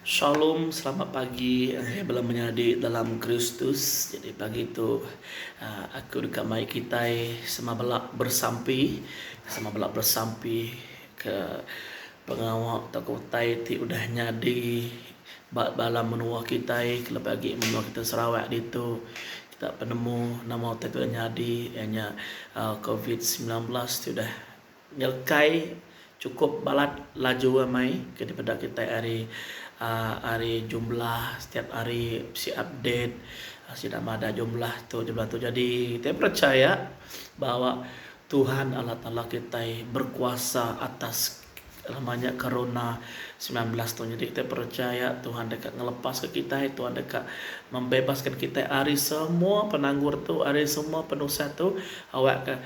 Shalom selamat pagi ngagai bala menyadi dalam Kristus jadi pagi tu aku deka mai kitai sama bala bersampi sama bala bersampi ke pengawa tauka utai ti udah nyadi ba dalam menua kitai kelebih agi menua kitai Sarawak ditu kita penemu nama utai ti udah nyadi iya nya covid sembilan belas ti udah Ngelkai chukup balat laju amai ke dipeda kitai ari aaa ari jumlah setiap hari bisi update sida madah jumlah tu jumlah tu jadi kitai perechaya bahawa Tuhan Allah Taala kitai berkuasa atas nama nya corona semilan belas tu jadi kitai perechaya Tuhan deka ngelepaska kitai Tuhan deka membebaska kitai ari semua penanggul tu ari semua penusah tu awakka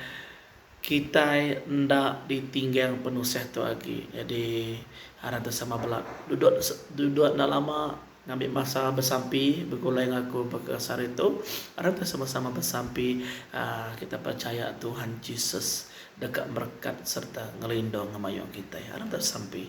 Kitai enda ditinggang penusah tu agi jadi aran tu sama bela. Duduk duduk enda lama ngambi masa besampi begulai enggau aku baka sehari tu aran tu sama sama besampi aaa kitai percaya Tuhan Jesus deka merekat sereta ngelindung ngemayuh kitai aran tu sampi.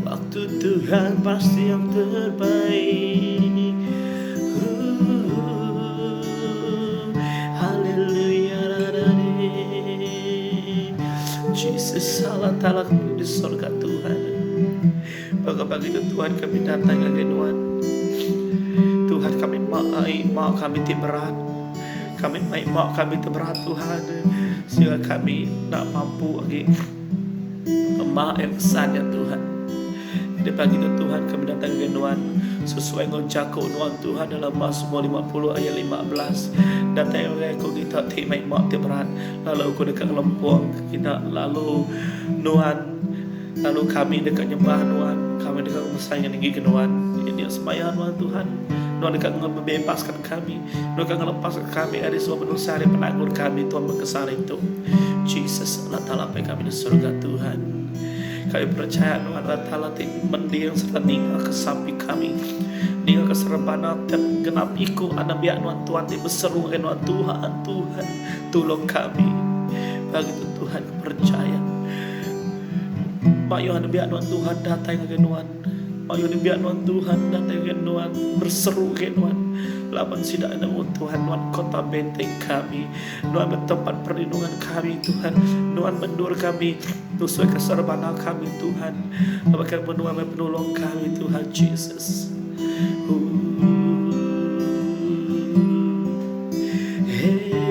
Waktu Tuhan pasti yang terbaik Haleluya Jesus Allah Ta'ala kami di surga Tuhan Bagi pagi itu Tuhan kami datang lagi Tuhan Tuhan kami maai mak kami ti berat Kami maai mak kami ti berat Tuhan Sehingga kami nak mampu lagi Kemah ai pesan nya Tuhan. Nyadi pagi tu Tuhan ke medatang ngagai nuan sesuai enggau jaku nuan Tuhan dalam Mazmur lima puluh ayat lima belas. Datai ngagai aku kita ti meh ima ti berat lalu aku deka ngelempung kina lalu nuan lalu kami deka nyembah nuan kami deka ngemesai ngeninggika nuan. Nya semaya nuan Tuhan nuan deka ngebebaskan. Kami, Nuan ka ngelepaska kami ari semua penusah, ari penanggul kami, Tuan bekesah hari tu. Jesus, Allah Taala apai kami di surga, Tuhan. Kami percaya Nuan Allah Taala ti mending serta ninga ke sapi kami. Ninga ke serebana tiap genap iku anak biak Nuan Tuan ti beseru ke Nuan Tuhan, Tuhan, tolong kami. Bagi tu Tuhan percaya. Mak Yohan biak Nuan Tuhan datang ke Nuan. Mayuh nembiak nuan Tuhan datai gak nuan, berseru gak nuan, laban sida enda mut Tuhan nuan kota benteng kami, nuan meh tempat perlindungan kami Tuhan, nuan mendur kami tusui ke serbana kami Tuhan, baka mun nuan meh penulung kami Tuhan Jesus. Ooh, hey.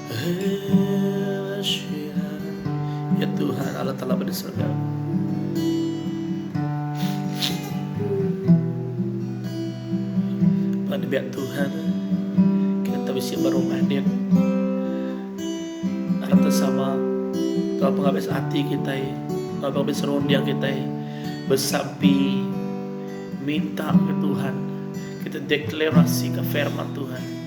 Ya Tuhan, Allah Taala ba di sorga. Ba nembiak Tuhan, kita bisi berumah din. Harap tersama, kalau pengabis hati kita, kalau pengabis rondia kita, bersapi, minta ke Tuhan, kita deklarasi ke firman Tuhan.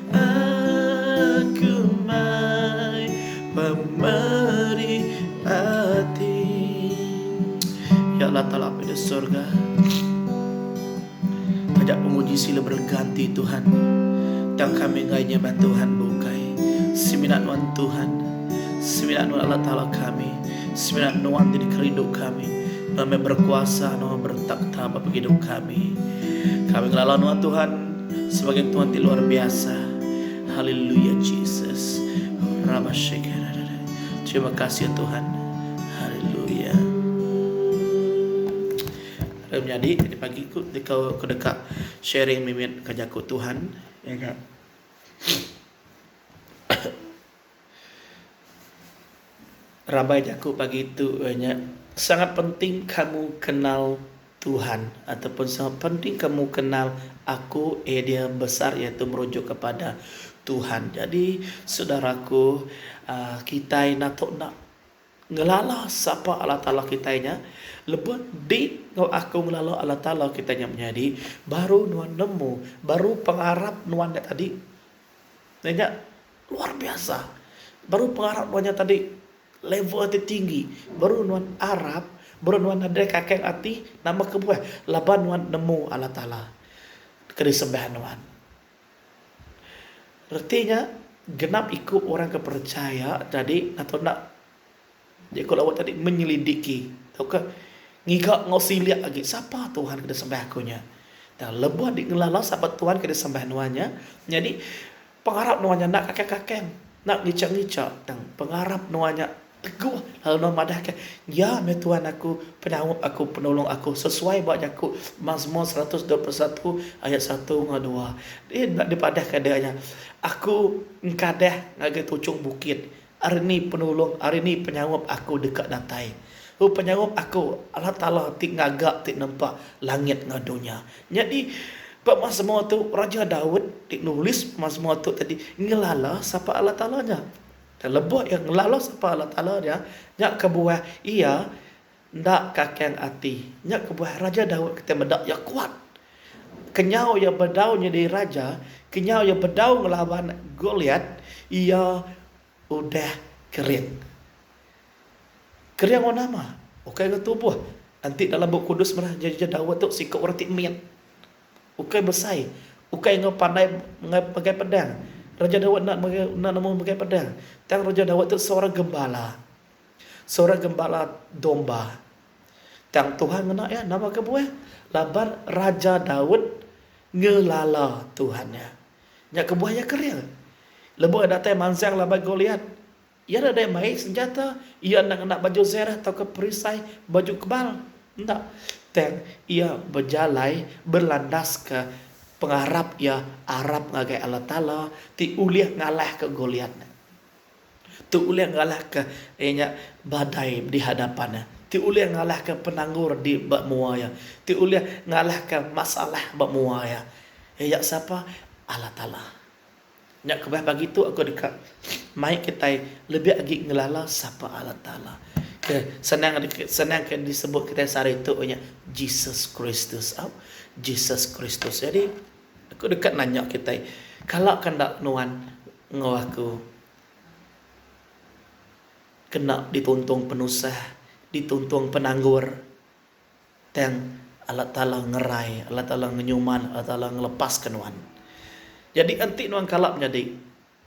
Aku mai pemeri ati. Ya Allah Taala Apai di Sorga. Taja pemuji sila berganti Tuhan. Tang kami enggai nyembah Tuhan bukai. Semina nuan Tuhan. Semina nuan Allah Taala kami. Semina nuan ti dikerindu kami. Nuan meh berkuasa, nuan meh bertakhta ba pegidup kami. Kami ngelala nuan Tuhan. Sebagai Tuhan ti luar biasa. Haleluya Jesus. Rabashekere. Terima kasih ya Tuhan. Haleluya. Lalu menyadi tadi pagi ku dekau ke deka sharing mimit ke jaku Tuhan. Ya kan? Rabai jaku pagi tu iya nya sangat penting kamu kenal Tuhan ataupun sangat penting kamu kenal aku eh dia besar iya tu merujuk kepada Tuhan. Jadi saudaraku aaa kitai enda tu enda ngelala sapa Allah Taala kitai nya lebuh di enggau aku ngelala Allah Taala kitai nya menyadi baru nuan nemu baru pengarap nuan nya tadi. Nya. Luar biasa. Baru pengarap nuan nya tadi level ti tinggi baru nuan arap baru nuan nadai kakeng ati nama kebuah laban nuan nemu Allah Taala ke disembah nuan. Reti nya genap iku orang ke percaya jadi ngatur enda Jaku lawat tadi menyelidiki tauka ngiga enggau silik agi sapa Tuhan ke disembah aku nya. Tang lebuh dingelala sapa Tuhan ke disembah nuan nya, nyadi pengarap nuan nya enda kakang-kakang, enda ngicha-ngicha tang pengarap nuan nya teguh lalu nuan madahka, Iya meh Tuhan aku, penaup aku, penulung aku sesuai ba jaku Mazmur seratus dua puluh satu ayat satu enggau dua. Enda dipadahka deka nya, Aku engkadah ngagai tuchung bukit. Ari ni penulung, ari ni penyaup aku deka datai? Hu penyaup aku, Allah Taala ti ngaga ti nempa langit enggau dunya. Nyadi, pemasmur tu Raja Daud ti nulis pemasmur tu tadi ngelala sapa Allah Taala nya. Lebuh iya ngelala sapa Allah Taala nya, nya kebuah iya Enda kakang ati. Nya kebuah Raja Daud kitai meda iya kuat. Kenyau iya bedau nyadi raja, kenyau iya bedau ngelaban Goliat, iya udah kering. Kering enggau nama? Ukai enggau tubuh. Enti dalam Bup Kudus meda Raja Daud tu siku orang ti mit. Ukai besai, ukai enggau pandai megai pedang. Raja Daud enda enda nemu megai pedang. Tang Raja Daud tu seorang gembala. Seorang gembala domba. Tang Tuhan ngena iya nama kebuah? Laban Raja Daud ngelala Tuhan iya. Nya kebuah iya kering. Lebuh iya datai mansang laban Goliat, iya enda daya mai senjata, iya enda ngena baju zerah tauka perisai baju kebal. Enda. Tang iya bejalai berlandaska pengarap iya arap ngagai Allah Taala ti ulih ngalahka Goliat. Tu ulih ngalahka iya nya badai di hadapan iya. Tu ulih ngalahka penanggul di ba mua iya. Tu ulih ngalahka masalah ba mua iya. Iya sapa? Allah Taala. Nya kebeh pagi tu aku deka mai kitai lebih agi ngelala sapa Allah Taala. Ke senang deka senang ke disebut kitai sehari tu iya nya Jesus Kristus. Au. Jesus Kristus. Jadi. Aku deka nanya kitai, kala ka enda nuan enggau aku kena dituntung penusah, dituntung penanggul, tang Allah Taala ngerai, Allah Taala ngenyuman, Allah Taala ngelepaska nuan. Jadi enti nuan kala menyadi,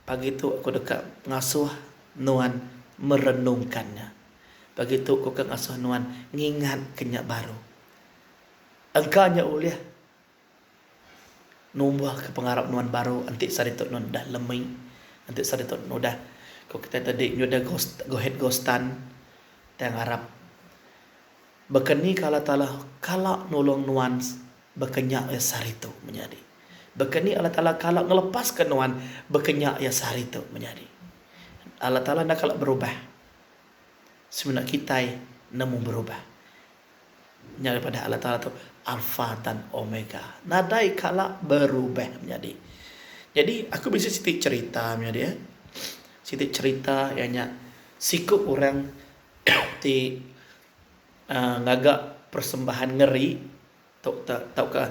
pagi tu aku deka ngasuh nuan merenungka nya. Pagi tu aku deka ngasuh nuan ngingatka nya baru. Engka nya ulih Numbuhka pengarap nuan baru enti saritu nuan udah lemi, enti saritu nuan udah ku kitai tadi nyuda go ahead go stun. Kitai ngarap baka ni ka Allah Taala kala nulung nuan baka nya iya saritu menyadi. Baka ni Allah Taala kala ngelepaska nuan baka nya iya saritu menyadi. Allah Taala enda kala berubah. Semina kitai nemu berubah. Nya ari padah Allah Taala tu Alfa tang Omega. Nadai kala berubah menyadi. Jadi aku bisi siti cerita menyadi eh. Siti cerita iya nya siku orang ti aaa ngaga persembahan ngeri tu ta tauka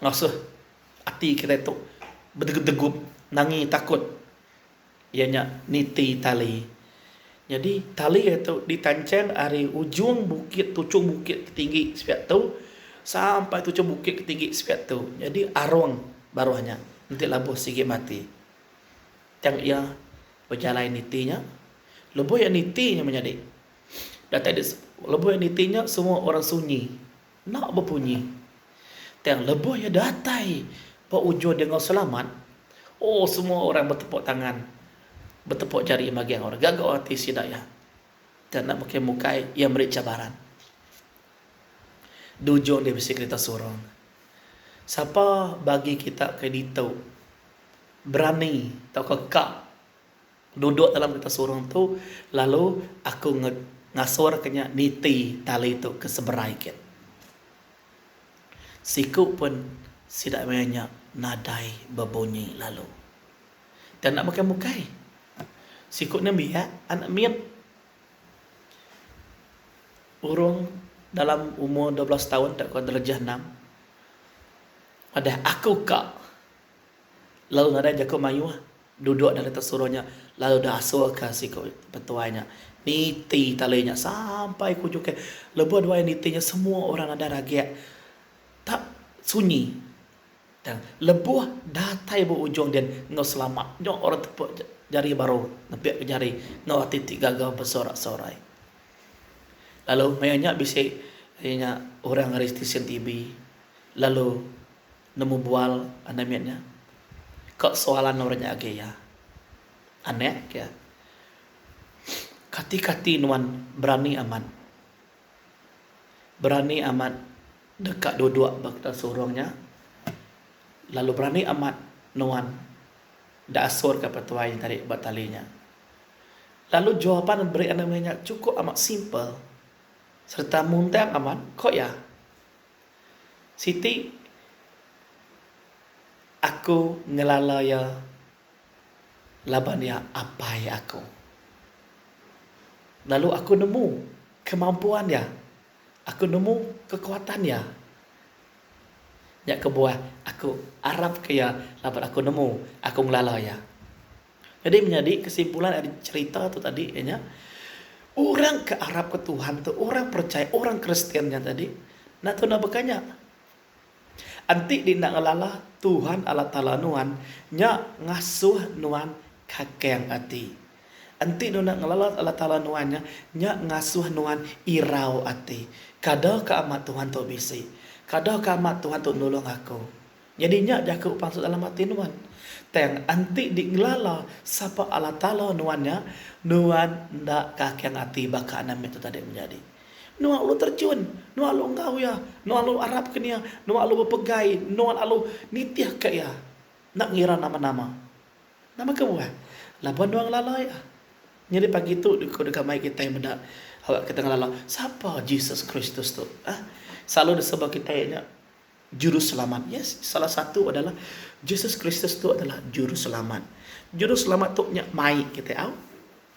ngasuh ati kitai tu bedegup-degup nangi takut. iya nya niti tali. Nyadi tali iya tu ditancheng ari ujung bukit tuchung bukit ke tinggi sepiak tu sampai tuchung bukit ke tinggi sepiak tu. Nyadi arung baruh nya enti labuh sigi mati. Tang iya bejalai niti nya. Lebuh iya niti nya menyadi datai lebuh iya niti nya semua orang sunyi. enda bepunyi. Tang lebuh iya datai ba ujung dia enggau selamat, oh semua orang betepuk tangan, betepuk jari magang orang gaga ati sida iya. Tang enda bukai bukai iya meri cabaran. Di ujung dia bisi kerita surung. Sapa bagi kita ke ditu berani tauka ka. Duduk dalam kereta surung tu lalu aku ngasorka nya niti tali tu ke seberai git. Siku pun sida maya nya nadai bebunyi lalu. Tang enda bukai-bukai, siku nya biak anak mit urung dalam umur dua belas taun tauka darjah enam madah aku ka. Lalu nadai jaku mayuh duduk dalam kereta suruh nya lalu deh asulka siku petuai nya niti tali nya sampai ke ujung ke lebuh dua hari niti nya semua orang nadai ragik tak sunyi tang lebuh datai ba ujung din enggau selamat nya orang tepuk jari baru nepik ke jari enggau ati ti gaga besorak-sorai lalu maya nya bisi iya nya orang ari stesen TV lalu. Nemu bual anai mit nya. Ka soal anau nya agi iya. Anek ke. Kati kati nuan berani amat. Berani amat deka duduk ba kitak surung nya. Lalu berani amat nuan enda asur ka petuai nya tadi ba tali nya. Lalu jawapan beri anai mit nya cukup amat simple serta muntang amat, ko iya. Siti aku ngelala iya laban iya apai aku. Lalu aku nemu kemampuan iya, aku nemu kekuatan iya. Nya kebuah aku arapka iya laban aku nemu, aku ngelala iya. Nyadi menyadi kesimpulan ari cherita tu tadi iya nya orang ke arap ke Tuhan tu orang percaya orang kristian nya tadi enda tau enda baka nya. Enti di enda ngelala Tuhan Allah Taala nuan nya ngasuh nuan kakang ati. Enti nuan enda ngelala Allah Taala nuan nya nya ngasuh nuan irau ati. Kada ke amat Tuhan tu bisi. Kada ke amat Tuhan tu nulung aku. Nyadi nya jaku pansut dalam ati nuan. Tang enti dingelala sapa Allah Taala nuan nya, nuan enda kakang ati baka Namek tu tadi menjadi. Nuan alu terjun, nuan alu enggau Iya, nuan alu arapka Iya, nuan alu bepegai, nuan alu nitihka Iya enda ngira nama-nama. Nama kebuah? Laban nuan ngelala Iya. Nyadi pagi tu ku deka mai kitai meda awakka kitai ngelala sapa Jesus Kristus tu. Selalu diseba kitai nya. Juruselamat. Yes, salah satu adalah Jesus Kristus tu adalah Juruselamat. Juruselamat tu nya mai kitai au.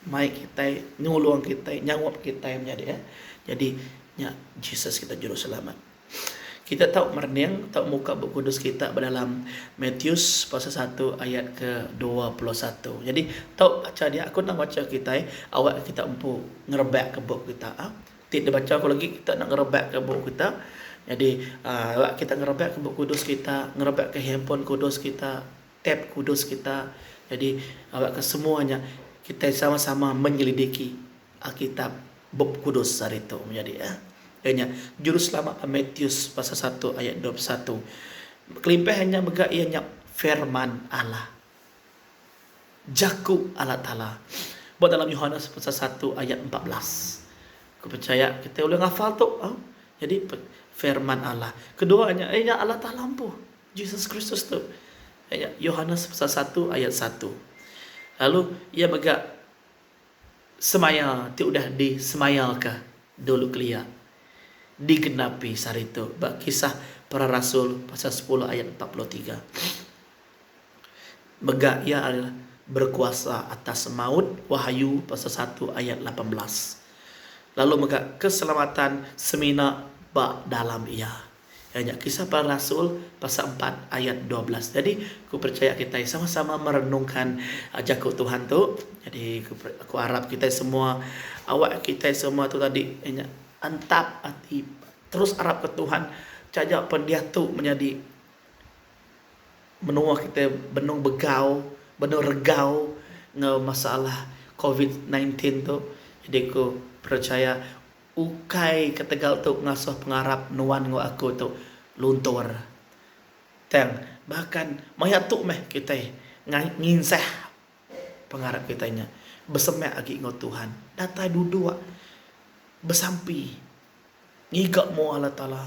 Mai kitai, nulung kitai, nyaup kitai menyadi iya. Jadi nya Jesus kita Juruselamat. Kita tau merening, tau muka Bup Kudus kita ba dalam Matius pasal satu ayat ke dua puluh satu. Jadi tau bacha dia, aku endang bacha kitai awakka kita empu ngerebakka bup kita. Ti dibacha ku legi kita enda ngerebakka bup kita. Nyadi rak kita ngerebakka bup kudus kita, ngerebakka handphone kudus kita, tab kudus kita. Nyadi rak ke semua nya kitai sama-sama menyelidiki Alkitab, Bup Kudus hari tu menyadi eh. Iya nya juruselamat ba Matius pasal satu ayat dua puluh satu. Kelimpah iya nya mega iya nya Firman Allah. Jaku Allah Taala ba dalam Yohanes pasal satu ayat empat belas. Aku percaya kita ulih ngafal tu. Ha? Jadi firman Allah. Kedua nya eh, nya Allah Taala empu. Jesus Kristus tu. Eh, Yohanes pasal satu ayat satu. Lalu ia mega semaya ti udah disemaya ke dulu kelia digenapi saritu ba kisah para rasul pasal 10 ayat 43. Mega Iya adalah berkuasa atas maut, Wahyu pasal satu ayat lapan belas. Lalu mega keselamatan semina ba dalam Iya. Iya nya Kisah Para Rasul pasal empat ayat dua belas. Jadi aku percaya kitai sama-sama merenungka jaku Tuhan tu. Jadi aku arap kitai semua awak kitai semua tu tadi iya nya entap ati terus arapka Tuhan taja pun diatu menyadi menua kitai benung begau, benung regau enggau masalah covid nine tin tu jadi aku perechaya ukai ketegal tu ngasuh pengarap nuan enggau aku tu luntur. Tang bahkan maya tu meh kitai nginsah pengarap kitai nya besemak agi enggau Tuhan datai duduk besampi ngiga mua Allah Taala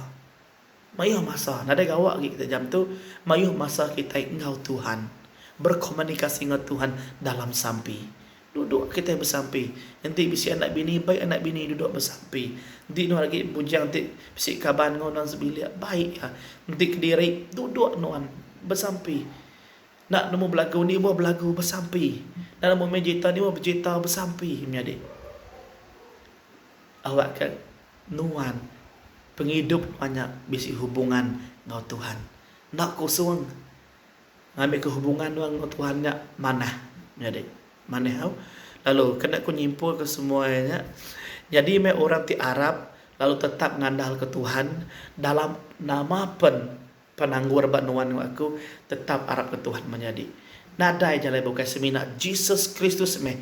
Mayuh masa, nadai gawa agi kitai jam tu, mayuh masa kitai enggau Tuhan, berkomunikasi enggau Tuhan dalam sampi. Duduk kitai besampi, enti bisi anak bini, baik anak bini duduk besampi. Enti nuan agi bujang ti bisi kaban enggau nuan sebilik, baik iya. Enti kediri, duduk nuan besampi. Enda nemu belagu indi ibuh, belagu besampi. Enda nemu main gitar indi ibuh, bejita besampi menyadi. Awakka Nuan, pengidup nuan nya bisi hubungan enggau Tuhan. Enda kosong ngambika hubungan nuan enggau Tuhan nya manah menyadi manah tau. Lalu kena ku nyimpulka semua nya, nyadi meh orang ti arap lalu tetap ngandalka Tuhan dalam nama pen Penanggul ba nuan enggau aku tetap arap ke Tuhan menyadi. Nadai jalai bukai semina Jesus Kristus meh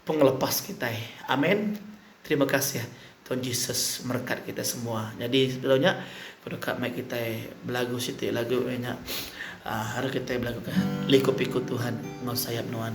pengelepas kitai. Amen. Terima kasih Tuan Jesus merekat kitai semua. Nyadi sebedau nya ku deka mai kitai belagu siti lagu iya nya aaa ari kitai belagu ka Liku-piku Tuhan enggau sayap nuan.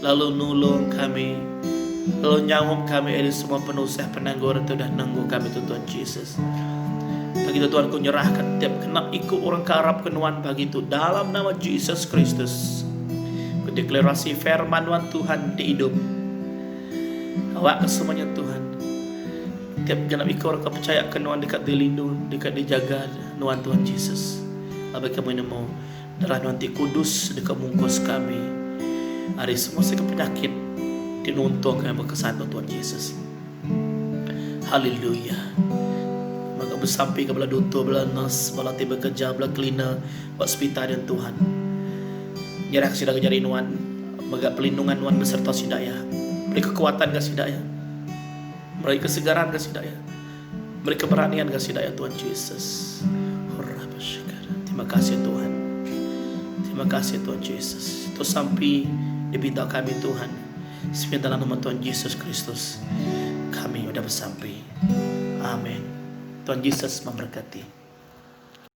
lalu nulung kami, lalu nyaup kami ari semua penusah penanggor ti udah nenggu kami tu Tuan Jesus. Begitu Tuan ku nyerahka tiap kena iku orang ke arap ke Nuan bagi tu dalam nama Jesus Kristus. Ku deklarasi firman Nuan Tuhan ti idup. Awak ke semuanya Tuhan. Tiap genap iku orang ke percaya ke Nuan dekat dilindung, dekat dijaga Nuan Tuhan Jesus. Labi kami nemu Darah Nuan ti kudus deka mungkus kami ari semua segi penyakit ti nuntung kami bekesatu Tuan Jesus. Haleluya. Mega besampi ke bala dutur, bala nurse, bala ti bekerja, bala cleaner ba sepital nya Tuhan. Nyerah ke sida ke jari Nuan. Mega pelindungan Nuan beserta sida iya. Beri kekuatan ke sida iya. Beri kesegaran ke sida iya. Meri keberanian ga sida ya Tuhan Jesus. Terima kasih Tuhan. Terima kasih Tuhan Jesus. Tu sampi dipinta kami Tuhan. Sepi dalam nama Tuhan Jesus Kristus. Kami udah bersampi. Amin. Tuhan Jesus memberkati.